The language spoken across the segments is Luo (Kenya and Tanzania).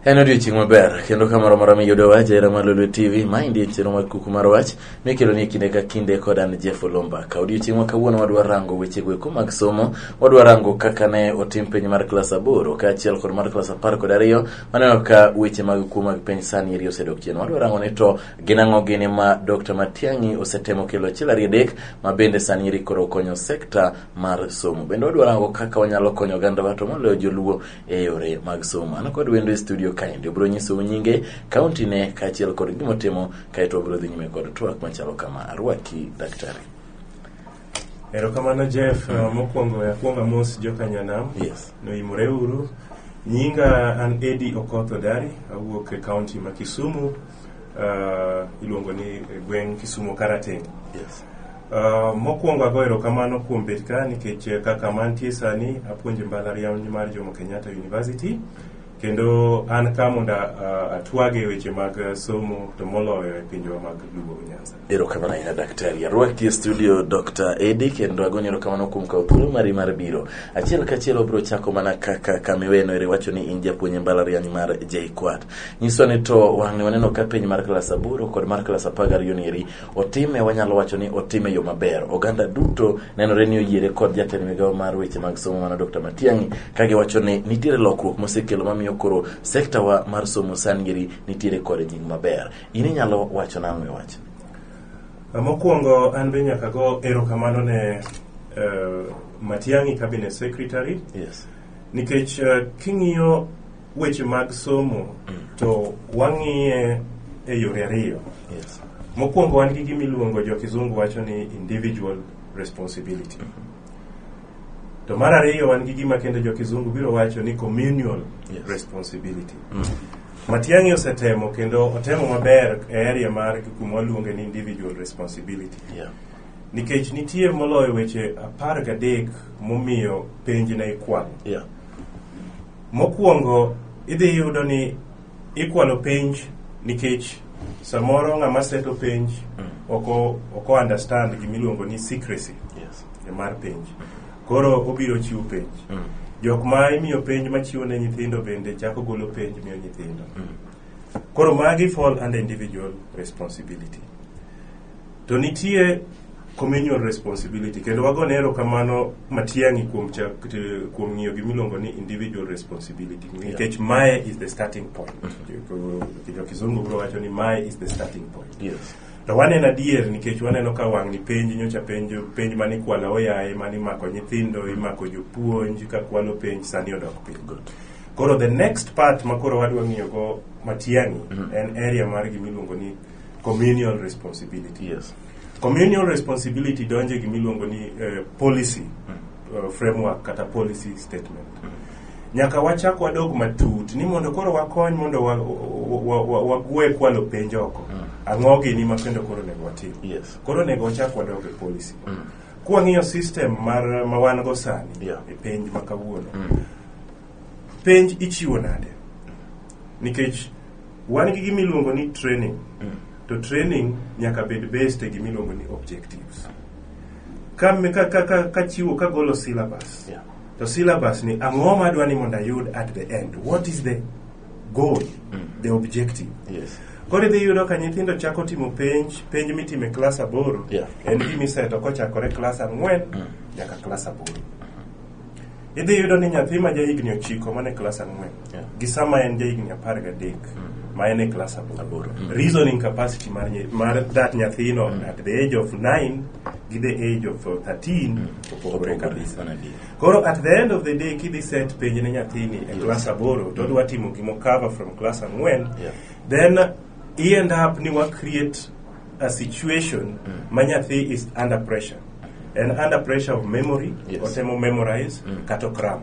En odiochieng' maber kendo ka moro mora miyudo wach era mar Lolwe TV ma endi en chenro mar kuku mar wach mikelo ni kinde ka kinde kod an Jeff Olomba. Ka odiochieng' ma kawuono wadwa rango weche gweko mag somo, wadwa rango kaka ne otim penj mar klas aboro kaachiel kod mar klas apar kod ariyo. Waneno ka weche mag kuo mag penj sani eri osedok chien. Wadwa rango ni to Gin ang'o gini ma Dr. Matiang'i osetemo kelo achiel ariyo adek ma bende sani eri koro konyo sekta mar somo. Bende wadwaro ango kaka wanyalo konyo ogandawa to moloyo joluo e yore mag somo. An kod wendo e studio kaendi obiro nyisou nyinge, kaontine kaachiel kod gima otimo kaeto wabiro dhi nyime kod twak machalo kama. Arwaki daktari. Erokamano Jeff, uh, mokwongo akwonga mos joka Nyanam. Yes. Noimore uru. Nyinga an Eddie Okoth Odari, awuok e kaunti ma Kisumu. uh, iluongo ni e gweng' Kisumo Karateng. Yes. Uh, mokwongo ago erokamano kuom bet ka nikech eh, kaka mantie sani apuonje mbalariany mar Jomo Kenyatta University kendo an ka mondo uh, atwage weche mag eh, somo to moloyo e pinjewa mag Luo Nyanza. Erokamano ahinya daktari. Arwaki e studio Dr. Edi kendo agoni erokamano kuom kawo thuolo mari mar biro. Achiel kachiel obiro chako mana kaka kamiweno ere wacho ni in japuonj e mbalariany mar JKUAT. Nyiswa ni to wang'e waneno ka penj mar klas aboro kod mar klas apar gariyo ni eri otime wanyalo wacho ni otime yo maber. Oganda duto nenore ni oyiere kod jatend migawo mar weche mag somo mano Dr. Matiang'i ka giwacho ni nitiere lokruok mosekelo mamiyo koro sekta wa mar somo sani eri nitiere kod nying maber. in inyalo wacho nang'o e wach Mokwongo an be nyaka go erokamano ne eh, Matiang'i Cabinet Secretary yes nikech eh, king'iyo weche mag somo to wang'iye e yore ariyo. yes Mokwongo wan gi gimiluongo jo kizungu wacho ni individual responsibility. To mar ariyo wan gi gima kendo jo kizungu biro wacho ni communal Yes. responsibility. Matiang'i osetemo kendo otemo maber e area mar kuma waluonge ni individual responsibility. Yeah. Nikech nitie moloyo weche apar gadek momiyo penj ne ikwal. Yeah. Mokwongo idhi yudo ni ikwalo penj nikech samoro ng'ama seto penj oko oko understand gimiluongo ni secrecy Yes. mar penj. Koro obiro chiwo penj. Mm. Jok ma imiyo penj ma chiwo ne nyithindo bende chako golo penj miyo nyithindo. Mm. Koro magi fall under individual responsibility. To nitie communal responsibility kendo wago ne erokamano Matiang'i kuom chak, t- kuom ng'iyo gimiluongo ni individual responsibility nikech mae is the starting point. Jo Kizungu biro wacho ni mae is the starting point. Yes. To waneno adier nikech waneno ka wang'ni penj nyocha penjo penj mane ikwala oyaye mane imako nyithindo imako jopuonj ka kwalo penj sani odok piny. Koro the next part ma koro wadwa ng'iyo go matiani en area mar gima iluongo ni communal responsibility. Yes. Communal responsibility donjo e gima iluongo ni eh, policy uh, framework kata policy statement nyaka wachak wadog matut ni mondo koro wakony mondo wa- wa- wa- wagwe kwalo penj oko ang'o gini ma kendo koro onego watim Yes. koro onego wachak wadog e policy kwang'iyo system mar ma wan go sani Yeah. e penj ma kawuono Penj ichiwo nade? Nikech wan gi gima iluongo ni training. To training nyaka bed based e gima iluongo ni objectives. Ka, ka, ka, ka, ka chiwo, ka golo syllabus. Yeah. To syllabus ni ang'o ma adwa ni mondo ayud at the end? What is the goal? The objective? Yes. Koro idhi yudo ka nyithindo chako timo penj, penj mitimo e klas aboro. Yeah. En gima iseto kochakore klas ang'wen nyaka klas aboro. Idhi yudo ni nyathi ma jahigni ochiko man e klas ang'wen Yeah. gi sama en jahigni apar gadek Mm. ma en e klas aboro. Aboro. Mm. Reasoning capacity mar, nye- mar that nyathino at the age of 9 gi the age of uh, 13 opogore Opogore kabisa. sana ndiyo. Koro at the end of the day kidhi set penj ne nyathini e Yes. klas aboro to odwa timo gimo cover from klas ang'wen Yeah. then i end up ni wa create a situation ma nyathi is under pressure and under pressure of memory Yes. otemo memorize kata okram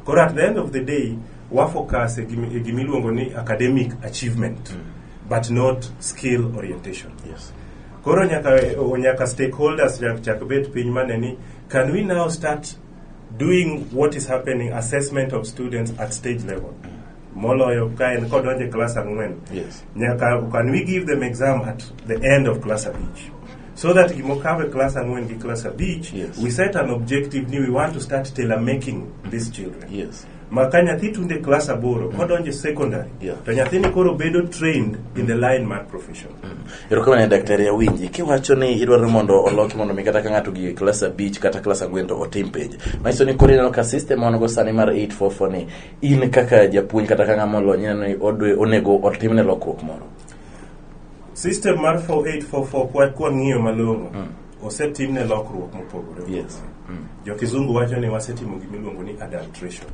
koro at the end of the day wafocus e gimi- e gimiluongo ni academic achievement but not skill orientation Yes. koro nyaka o- nyaka stakeholders nyaka chak bet piny mane ni can we now start doing what is happening assessment of students at stage level moloyo ka en kodonje class ang'wen yes. nyaka can we give them exam at the end of class abich so that gimokawe class ang'wen gi class abich yes. we set an objective ni we want to start tailor making these children yes. ma ka nyathi tunde class aboro mm. kodonje secondary yeah. to nyathini koro bedo trained in the line mar profession mm. erokamane daktari awinji kiwacho ni idwaro mondo oloki mondo mi kata ka ng'ato gi class abich kata class ang'wen to otim penj manyiso ni koro ineno ka system wanogo sani mar 844 ni in kaka japuonj kata ka ng'ama olony ineno ni odwe- onego otimne lokruok moro system mar 4844 kwa- kwang'iyo malong'o osetimne lokruok mopogore Yes. opogore. jo-kizungu wacho ni wasetimo gima iluongo ni adultration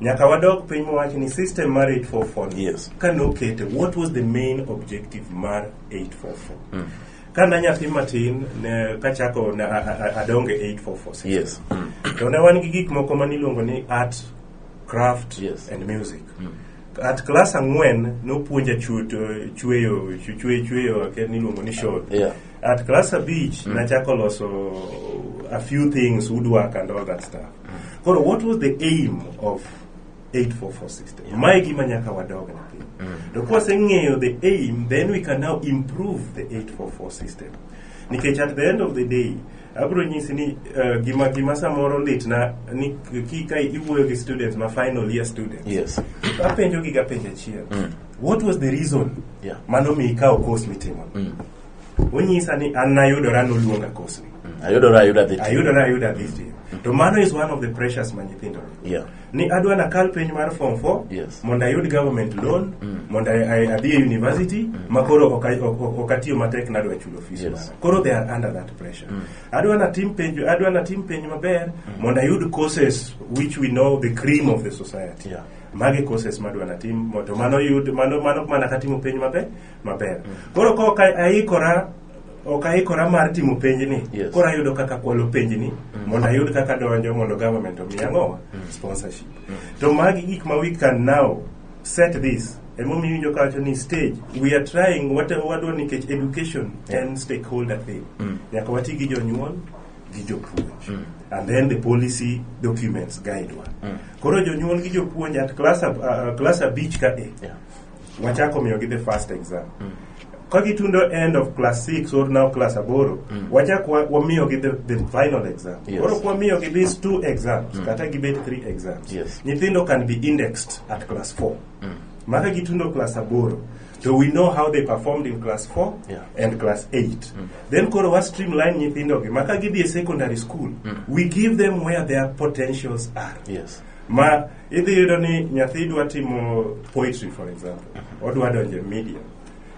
nyaka wadog piny mowach ni system mar 844 Yes. ka nokete what was the main objective mar 844 Ka na nyathi matin ne kachako na a- a- a- adonge 8446. Yes. To ne wan gi gik moko ma niluongo ni art, craft Yes. and music. At class ang'wen nopuonja chuto chueyo chu- chueyo chueyo ake niluongo ni shod. Yeah. At class abich nachako loso a few things woodwork and all that stuff. Koro what was the aim of 844 system yeah. mae gima nyaka wadog na piny mm. to kwaseng'eyo the aim then we can now improve the 844 system nikech at the end of the day abro nyisi ni uh, gima gima samoro litna ni kika iwuoyo gi students ma final year students yes. apenjo gi gapenjo achiel mm. what was the reason yeah. mano mi ikawo course mitimo mm. onyisa ni an nayudora noluonga course ni mm. ayudora ayuda dhi ayudora ayuda dhi to mano is one of the pressures ma nyithindo yeah. ni adwa nakal penj mar form 4 Yes. mondo ayud government loan mondo I- I- adhi e university ma koro ok ay- ok- ok- ok atiyo matek nadwa chulo fees Yes. mara koro they are under that pressure adwa natim penj adwa natim penj maber mondo ayud courses which we know the cream of the society Yeah. mage courses madwa natim mo- to mano yud mano mano mana katimo penj maber maber koro ka ok aikora ok aikora mar timo penjni Yes. koro ayudo kaka kwalo penjni mondo ayud kaka donjo mondo government omiya ang'owa sponsorship to magi gik ma we can now set this emomiyo winjo kawacho ni stage we are trying wate- wadwa nikech education Yeah. en stakeholder thing Mm. nyaka wati gi jonyuol gi jopuonj and then the policy documents guide wa Mm. koro jonyuol gi jopuonj at class ab- uh, class abich ka e Yeah. wachako miyogi the first exam ka gitundo end of class 6 or now class aboro wachak wa- wamiyogi the, the final exam Yes. koro kwamiyogi these two exams kata gibet three exams Yes. nyithindo can be indexed at class 4 maka gitundo class aboro so we know how they performed in class 4 Yeah. and class 8 then koro wa streamline nyithindogi maka gidhi e secondary school we give them where their potentials are yes ma idhi yudo ni nyathi dwa timo poetry for example odwa donjo e media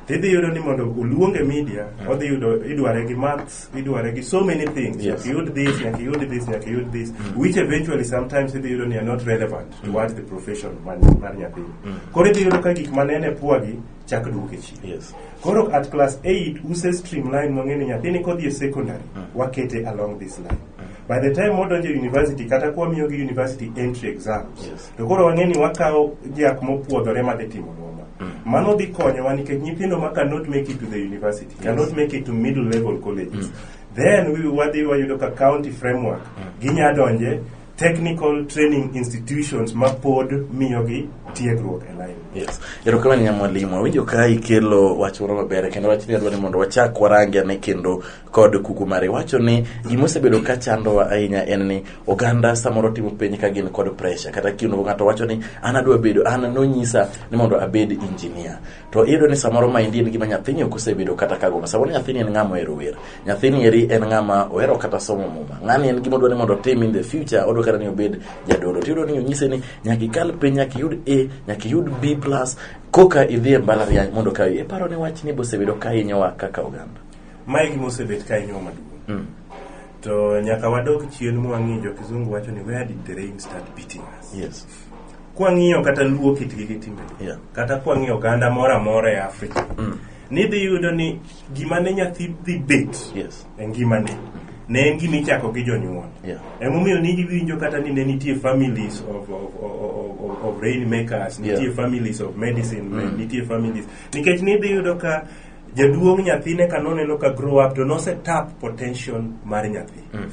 tidhi yudo ni mondo oluong e media odhi yudo idware gi maths idware gi so many things Yes. nyaka iyud this nyaka iyud this nyaka iyud this which eventually sometimes idhi yudo ni are not relevant to what the profession mar mar nyathini koro idhi yudo ka gik manene pwagi chak duoke chien Yes. koro at class 8 use streamline mong'e ni nyathini kodhi e secondary wakete along this line by the time wadonjo e university kata kwa miyo gi university entry exams Yes. to koro wang'e ni wakawo jak mopuodhore madhi timo noma mano dhi konyowa nikech nyithindo ma cannot make it to the university cannot make it to middle level colleges then we wadhi wayudo ka county framework ginya donje technical training institutions ma pod miyogi tiegruok e line Yes. Erokamano nya mwalimu. Awinjo ka ikelo wach moro maber kendo wachni adwa ni mondo wachak warange ane kendo kod kuku mare wacho ni gima osebedo ka chandowa ahinya en ni oganda samoro timo penj ka gin kod pressure kata kiuno ng'ato wacho ni an adwa bedo an nonyisa ni mondo abed engineer to iyudo ni samoro maendi en gima nyathini ok osebedo kata ka goma samoro nyathini en ng'ama ohero wer nyathini eri en ng'ama ohero kata somo muma ng'ani en gima odwa ni mondo otim in the future odwa kata ni obed jadolo to iyudo ni onyise ni nyaka ikal piny nyaka iyud a nyaka iyud b plus koka idhi e mbalariany mondo ka iparo ni wachni bosebedo ka hinyowa kaka oganda Mae gima osebet ka inyo maduong'. Mm. To nyaka wadog chien mwang'i jo kizungu wacho ni where did the rain start beating us? Yes. Kwang'iyo kata luo kitgi gi timbe. Yeah. Kata kwang'iyo oganda moro amora e Afrika. Mm. Nidhi yudo ni gima ne nyathi dhi bet yes. e ngimane. Mm ne en gima ichako gi jonyuol yeah. emomiyo niwinjo kata ni ne nitie families of, of, of, of rain makers nitie yeah. families of medicine mm. nitie families nikech nidhi yudo ka jaduong' nyathine ka noneno ka grow up to nose tap potential mar nyathi mm.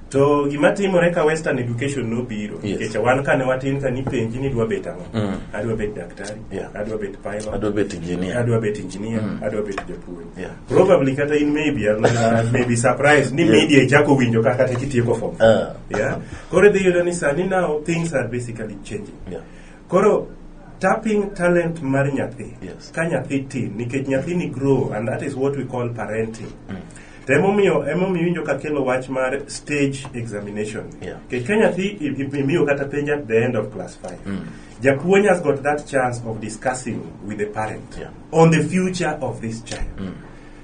to gima timore ka western education nobiro yes. kecha wan kane watin ka nipenji ni dwa bet ang'o mm. adwa bet daktari yeah. adwa bet pilot adwa bet engineer adwa bet engineer mm. adwa bet japuonj yeah. probably kata in maybe uh, maybe surprise ni yeah. media ichako winjo kaka te kitieko form uh. yeah kore dhi yudo ni sani now things are basically changing yeah. Koro tapping talent mar nyathi Yes. ka nyathi tin nikech nyathini grow and that is what we call parenting. To emomiyo emomiyo winjo ka kelo wach mar stage examination. Yeah. Nikech ka nyathi i- i- imiyo kata penj at the end of class 5. Japuonj has got that chance of discussing with the parent Yeah. on the future of this child.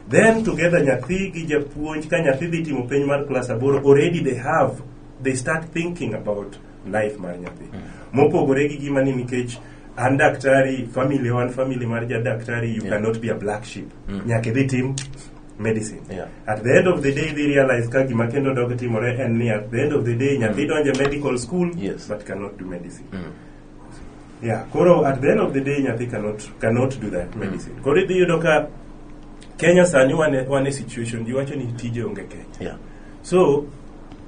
Then together nyathi gi japuonj ka nyathi dhi timo penj mar class aboro already they have they start thinking about life mar nyathi mopogore gi gima ni nikech an daktari family wan family mar ja daktari you Yeah. cannot be a black sheep Mm. nyaka idhi tim medicine Yeah. at the end of the day they realize ka gima kendo dog timore en ni at the end of the day nyathi donje medical school Yes. but cannot do medicine Mm. yeah koro at the end of the day nyathi cannot cannot do that medicine koro idhi yudo ka kenya sani wane wane situation ji wacho ni tije onge kenya Yeah. so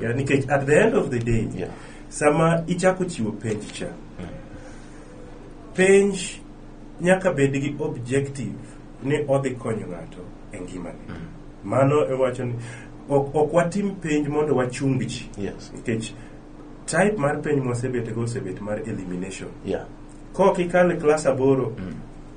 Yeah, nikech at the end of the day Yeah. sama ichako chiwo penj cha penj nyaka bed gi objective ni odhi konyo ng'ato e ngimane mano ewacho ni ok ok watim penj mondo wachung ji Yes. nikech type mar penj mwasebetego osebet mar elimination Yeah. kok ikale klas aboro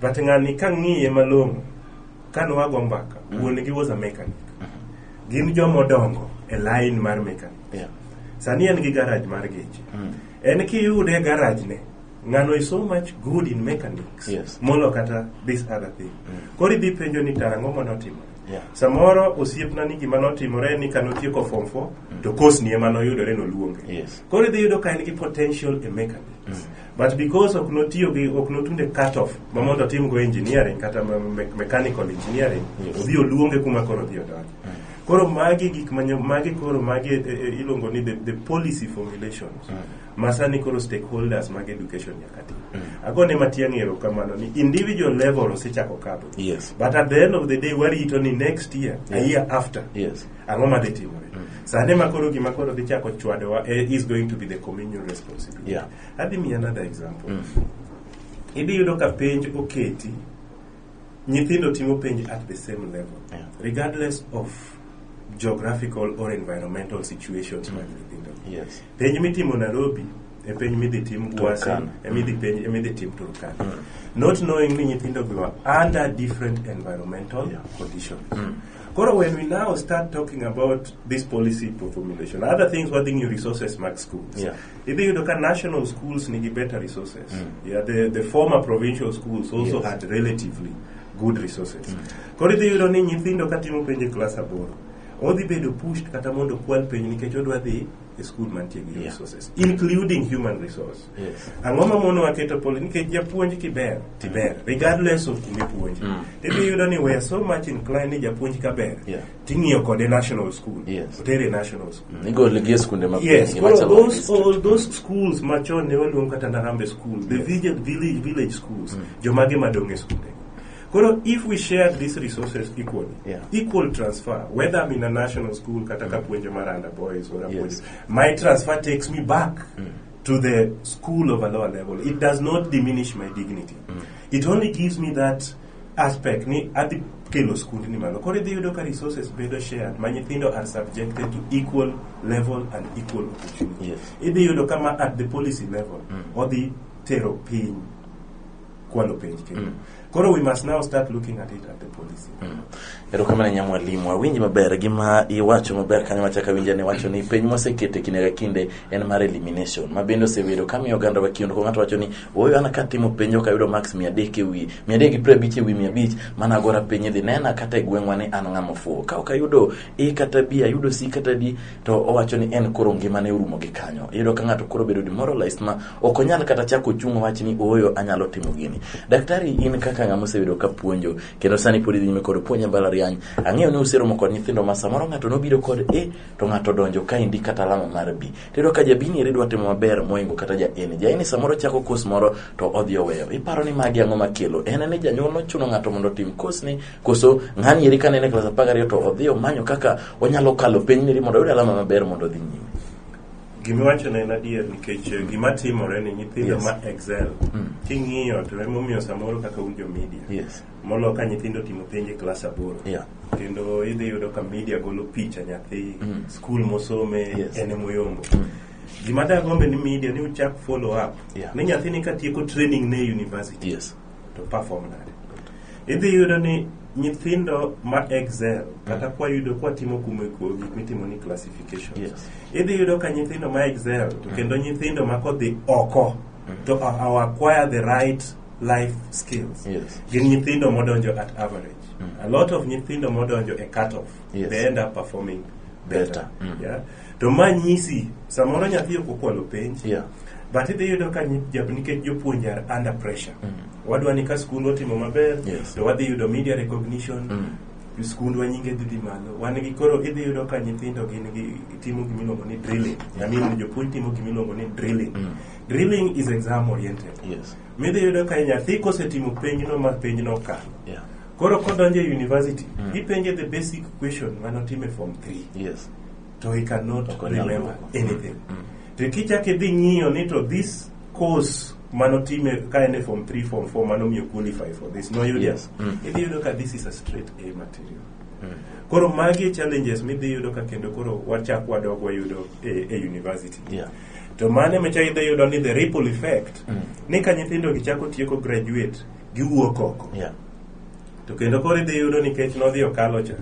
But ng'ani ka ng'iye malong'o, ka nwago mbaka, wuon gi was a mechanic. Gin joma odongo e line mar mechanic. Yeah. Sani en gi garage mar geche. En kiyude e garage ne, ng'ano is so much good in mechanics Yes. molo kata this other thing. Koro idhi penjo ni tang'o ma notimore. Yeah. Samoro osiepna ni gima notimore ni kano tieko form 4 to course ni ema noyudore noluonge. Yes. Koro idhi yudo ka en gi potential e mechanics. But because ok notiyo gi ok notunde cut off ma mondo otim go engineering kata ma- me- mechanical engineering Yes. odhi oluonge kuma koro odhi odonje. Koro magi gik manyo magi koro magi e, e, iluongo ni the, the policy formulations. Ma sani koro stakeholders mag education nyaka ti. Agone matiang' erokamano ni individual level osechako kadho. Yes. But at the end of the day warito ni next year, a Yeah. year after. Yes. ang'o ma dhi timore mm. sande ma koro gima koro dhi chako chwadowa eh, is going to be the communion responsibility yeah. adhi miya another example mm. idhi yudo ka penj oketi nyithindo timo penj at the same level yeah. regardless of geographical or environmental situations mm. mag nyithindo yes. penj mitimo nairobi e penj midhi tim gwasi emidhi mm. penj emidhi tim turkana mm. not knowing ni nyithindo go under different environmental yeah. conditions mm. Koro when we now start talking about this policy for formulation, other things wadhi ng'iyo resources mag schools. Yeah. Idhi yudo ka national schools nigi better resources. Mm. Yeah, the, the former provincial schools also Yes. had relatively good resources. Koro idhi yudo ni nyithindo ka timo penj e klas aboro, odhi bedo pushed kata mondo okwal penj nikech odwa dhi e school mantie gi Yeah. resources, including human resource. Yes. Ang'o ma monowa keto polo? Nikech japuonj kiber, tiber, regardless of kuma ipuonje. Mm. Idhi yudo ni we are so much inclined ni japuonj ka ber, Yeah. ting'iyo kode national school, Yes. otere national school. Mm, Igole gi e skunde mag Yes, piny, well, machalo those district. all those schools machon ne waluong kata Narambe school, the village, village, village schools, jomage madong e skunde. Koro if we share these resources equally, Yeah. equal transfer, whether I'm in a national school kata kapuonjo Maranda boys or Yes. apuonjo, my transfer takes me back to the school of a lower level, it does not diminish my dignity. Mm. It only gives me that aspect ni adhi kelo skundni malo koro idhi yudo ka resources bedo shared ma nyithindo are subjected to equal level and equal opportunity yes. idhi yudo kama at the policy level mm. odhi tero piny kwalo penj kendo mm. koro we must now start looking at it at the policy mm. erokamano nya mwalimu awinji maber gima iwacho maber kanyo machaka winja ni wacho ni penj mosekete kinde ka kinde en mar elimination ma bende osebedo kamiyo oganda wa kiondko ng'ato wacho ni ooyo an katimo penj ok ayudo max mia adek ewi mia adek gi piero abich ewi mia abich mana agora piny idhi nena kata e gweng'wa ni an ng'ama ofuwo ka ok ayudo e kata b ayudo c kata d to owacho ni en koro ngimane orumo gi kanyo iyudo ka ng'ato koro bedo demoralized ma ok onyal kata chako chung' wach ni ooyo anyalo timo gini daktari in kaka ng'ama osebedo ka puonjo kendo sani pod idhi nyime kod puonjo e mbalariany ang'eyo ni useromo kod nyithindo ma samoro ng'ato nobiro kod a to ng'ato donjo ka indi kata alama mar b tiyudo ka jabini eri dwa timo maber moingo kata ja eni ja eni samoro chako kos moro to odhi oweyo iparo ni magi ang'o makelo en ni janyuol nochuno ng'ato mondo otim kosni koso ng'ani eri kane en e klas apar gariyo to odhi omanyo kaka onyalo kalo penj neri mondo oyud alama maber mondo odhi nyime Gima iwacho ne en adier nikech eh, gima timore ni nyithindo Yes. ma excel Mm. king'iyo to emomiyo samoro kaka un jo media Yes. molo ka nyithindo timo penj e klas aboro Yeah. kendo idhi yudo ka media golo picha nyathi Mm. skul mosome Yes. en emoyombo Mm. gima dagombe ni media ni uchak follow up Yeah. ni nyathini katieko training ne e university Yes. to perform nade idhi yudo ni nyithindo ma excel kata kwa yudo kwa timo kumo eko gik mitimo ni classification Yes. idhi yudo ka nyithindo ma excel to kendo nyithindo ma kodhi oko to a- a- acquire the right life skills Yes. gin nyithindo modonjo at average a lot of nyithindo modonjo e cut off Yes. they end up performing better, Better. Mm. yeah to ma nyisi samoro nyathi ok okwalo penj Yeah. but idhi yudo ka nyi- jab- nikech jopuonj are under pressure wadwa ni ka skund otimo maber Yes. to wadhi yudo media recognition Mm. skundwa nyinge dhi dhi malo wan gi koro idhi yudo ka nyithindo gin gi timo gimiluongo ni drilling I mean, jopuonj timo gimiluongo ni drilling Mm. drilling is exam oriented Yes. midhi yudo ka nyathi kosetimo penjno ma penjno okalo Yeah. koro kodonjo e university Mm. ipenje the basic question manotime form 3 Yes. to he cannot Ok onyal remember dwoko. anything to kichak idhi ng'iyo ni to this course manotime ka en e form 3 form 4 manomiyo qualify for this noyudo Yes. Mm. idhi yudo ka this is a straight a material koro magi e challenges midhi yudo ka kendo koro wachak wadok wayudo e, e university Yeah. to mane mecha idhi yudo ni the ripple effect ni ka nyithindo gi chako tieko graduate giwuok oko Yeah. To kendo koro idhi yudo nikech nodhi okalo cha,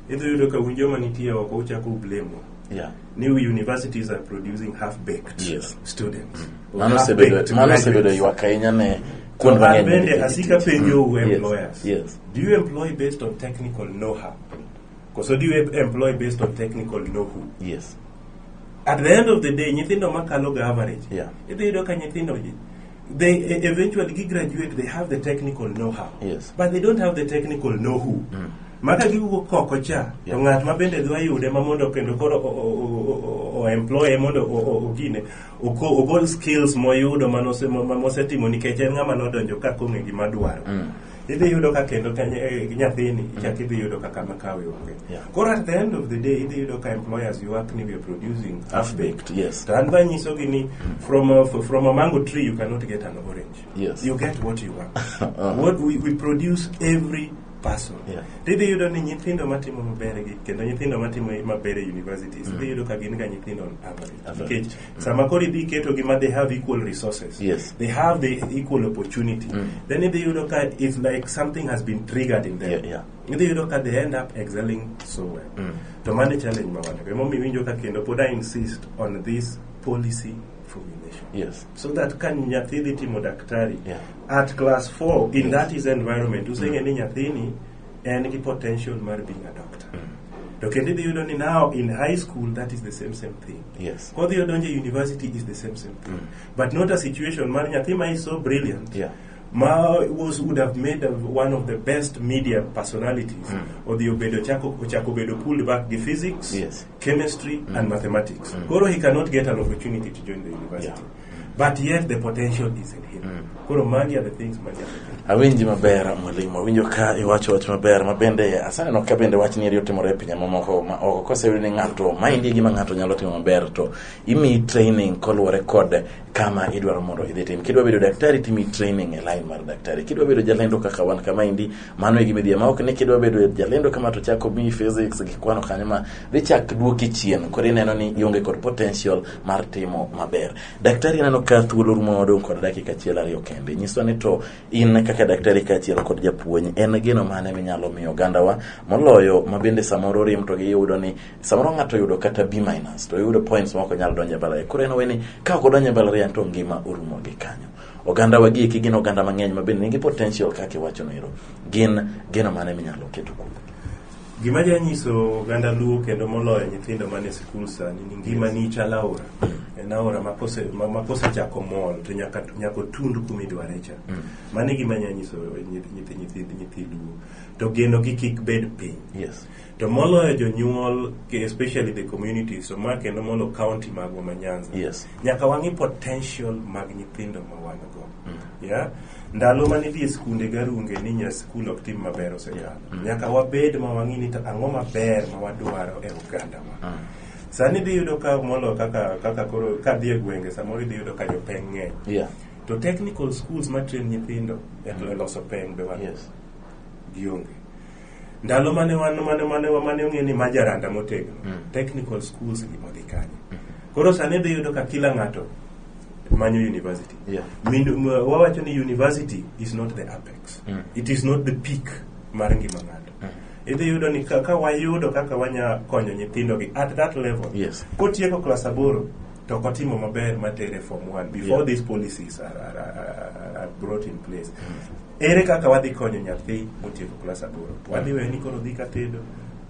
idhi yudo ka un joma nitie oko uchako ublemo Yeah. ni universities are producing half-baked Yes. students. or Mano osebedo half-baked mano graduates. osebedo ywak ahinya ne kuond An mang'eny. bende nikech- asika penjo u Yes, employers. yes. Do you employ based on technical know-how? Koso do you employ based on technical know-who? Yes. At the end of the day, nyithindo makalo ga average. Yeah. Idhi yudo ka nyithindo they e- eventually gi graduate they have the technical know how Yes. but they don't have the technical know who maka giwuok koko cha to Yeah. ng'at ma bende dwa yude ma mondo kendo koro o- o- o- o- o employe mondo o- o- ogine oko- ogol skills moyudo manosemo- ma- mosetimo nikech en ng'ama nodonjo ka kong'e gima dwaro idhi yudo ka kendo ka ny- eh, nyathini ichak idhi yudo ka kama kawe onge Yeah. koro at the end of the day idhi yudo ka employers yuak ni we are producing half baked yes to an be anyisogi ni from a, from a mango tree you cannot get an orange Yes. you get what you want Uh-huh. what we, we produce every person Yeah. tidhi yudo ni nyithindo matimo maber gi kendo nyithindo matimo maber e universities idhi yudo ka gin ga nyithindo on average Average. nikech sama koro idhi keto gi ma they have equal resources Yes. they have the equal opportunity then idhi yudo ka it's like something has been triggered in them Yeah, yeah. idhi yudo ka they end up excelling so well to mano e challenge ma wan-go emomiyo iwinjo ka kendo pod i insist on this policy formulation Yes. so that ka nyathi dhi timo daktari Yeah. at class 4 in that is environment useng'e ni nyathini en gi potential mar being a doctor to kendo idhi yudo ni now in high school that is the same same thing Yes. kodhi odonje university is the same same thing but not a situation mar nyathi ma is so brilliant Yeah. ma was would have made a, one of the best media personalities odhi obedo chako ochako bedo pulled back gi physics Yes. chemistry and mathematics koro he cannot get an opportunity to join the university Yeah. but yet the potential is in him mm. koro magi are the things ma awinji maber mwalimu awinjo ka iwacho wach maber ma bende asaneno ka bende wach nieri otimore e pinje mamoko ma oko koseyudo ni ng'ato maendi e gima ng'ato nyalo timo maber to imiyi training koluwore kod kama idwaro mondo idhi tim kidwa bedo daktari timi training e line mar daktari kidwa bedo jalendo kaka wan kama indi mano e gimidhiye ma ok ni kidwa bedo jalendo kama to chako miyi physics gi kwano kanyo ma dhi chak duoki chien koro ineno ni ionge kod potential mar timo maber. Daktari aneno ka thuolo rumo wadong' kod dakika achiel ariyo kende. Nyiswa ni to in kaka daktari kaachiel kod japuonj, en geno mane minyalo miyo ogandawa moloyo ma bende samoro rem to giyudo ni samoro ng'ato oyudo kata B minus to oyudo points ma ok onyal donjo e mbalariany. Koro en owe ni ka ok odonjo e mbalariany to ngima orumo gi kanyo. Oganda wa gieki gin oganda mang'eny ma bende nigi potential kaka iwachono ero. Gin geno mane minyalo keto kuom Gima janyiso oganda Luo kendo moloyo nyithindo man e sikul sani ni ngimani chal aora. En aora ma kose ma ma kosechako mol to nyaka nyaka otund kuma idware cha. Mano e gima nyanyiso nyithi nyithi nyithi nyithi Luo. To geno gi kik bed piny. Yes. To moloyo jonyuol ke- especially the communities to ma kendo molo county magwa ma Nyanza. Yes. Nyaka wang'i potential mag nyithindo ma wan go. Yeah. Ndalo mane idhi e skunde garunge ni nya skul ok tim maber osekalo. Yeah. Nyaka wabed ma wang'i ni to ang'o maber ma wadwaro e ogandawa. Ah. Sani idhi yudo ka molo kaka kaka koro ka dhi e gwenge samoro idhi yudo ka jopeng' ng'eny. Yeah. To technical schools ma train nyithindo e to e loso peng' be wan Yes. gionge. Ndalo mane wan mane mane mane ong'e ni majaranda motegno. Mm. Technical schools gi modhi kanye. Koro sani idhi yudo ka kila ng'ato manyo university. Yeah. Min- m- wawacho ni university is not the apex Mm. it is not the peak mar ngima ng'ato Mm. idhi yudo ni ka, ka wayudo kaka wanya konyo nyithindogi at that level Yes. kotieko klas aboro to ok otimo maber matere form one before Yeah. these policies are, are, are, are brought in place ere kaka wadhi konyo nyathi motieko klas aboro wadhi weye ni koro dhi katedo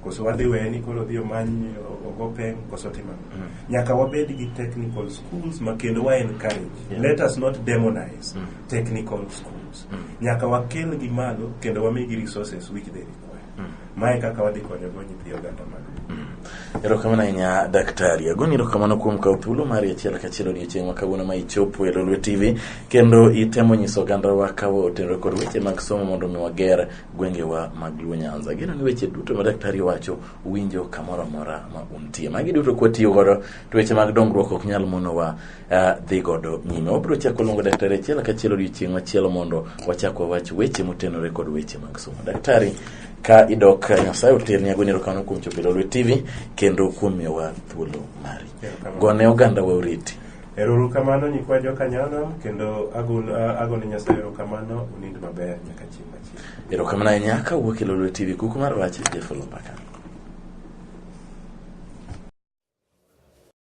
koso wadhi weye ni koro dhi omany o- ogo peng koso timo ang'o? nyaka wabed gi technical schools ma kendo wa encourage Yeah. let us not demonize Mm. technical schools nyaka wakelgi malo kendo wamigi resources which they require mae kaka wadhi konyogo nyithi oganda mag erokamano ahinya daktari agoni erokamano kuom kawo thuolo mari achiel kachiel odiochieng' ma kawuono ma ichopo e lolwe tv kendo itemo nyiso ogandawa kawo otenore kod weche mag somo mondo mi wager gwengewa mag luo nyanza geno ni weche duto ma daktari wacho winjo kamoro amora ma untie magi duto kwatiyo godo to weche mag dongruok ok nyal monowa uh, dhi godo nyime wabiro chako luongo daktari achiel kachiel odiochieng' machielo mondo wachak wawach weche motenore kod weche mag somo daktari ka idok eh, nyasaye oterni agoni erokamano kuom chopo e lolwe tv kendo kuom miyowa thuolo mari Erokamano. gone oganda wa oriti Eruru kamano nyikwa joka nyanam kendo agon- a- agone Nyasaye erokamano unind maber nyaka chieng' machieng'. erokamano ahinya ka wuok e lolwe tv kuku mar wach jefolo mbaka